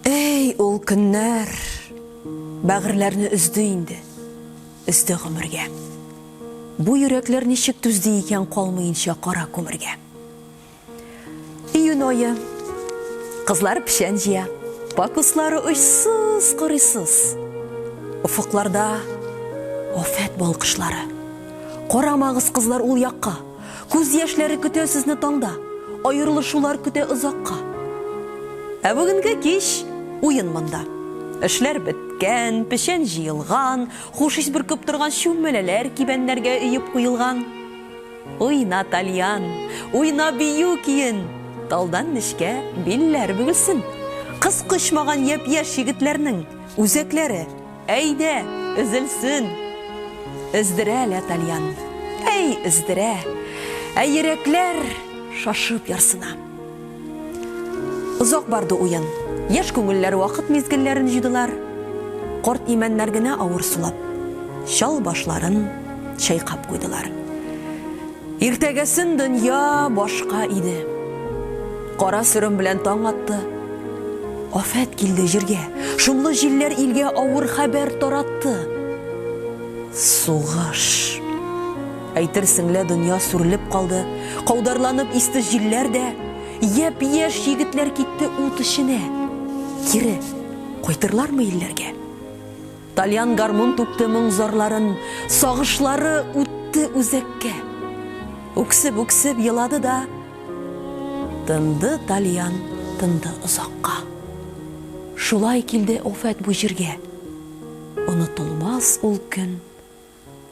Эй, ул көннәр! Бәгырьләрне өзде инде, өзде гомергә. Бу йөрәкләр ничек түзде икән калмыйнча кара күмергә. Июнь ае. Кызлар печән җыя. Пакуслары очсыз, корыйсыз. Офыкларда афәт балкышлары. Карамагыз, кызлар, ул якка. Күз яшьләре көтә сезне таңда, Аерылышулар көтә озакка. Ә бүгенге кич, уен монда. Эшләр беткән, печән җыелган, Хуш ис бөркеп торган чүмәләләр Кибәннәргә өеп куелган. Уйна, тальян, уйна бию көен, Талдан нечкә билләр бөгелсен. Кыз кочмаган япь-яшь егетләрнең Үзәкләре. Әйдә, өзелсен! Өздерә лә тальян. Әй, өздерә! Ә йөрәкләр шашып ярсына. Озак барды уен. Яшь күңелләр вакыт мизгелләрен җыйдылар. Карт имәннәр генә авыр сулап, чал башларын чайкап куйдылар. Иртәгәсен дөнья башка иде. Кара сөрем белән таң атты. Афәт килде җиргә. Шомлы җилләр илгә авыр хәбәр таратты. Сугыш. Әйтерсең лә дөнья сүрелеп калды. Каударланып исте җилләр дә. Япь-яшь егетләр китте ут эченә. Кире кайтырлармы илләргә? Тальян гармун түкте моң-зарларын, Сагышлары үтте үзәккә. Үксеп-үксеп елады да, Тынды тальян, тынды озакка. Шулай килде афәт бу җиргә, Онытылмас ул көн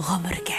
гомергә.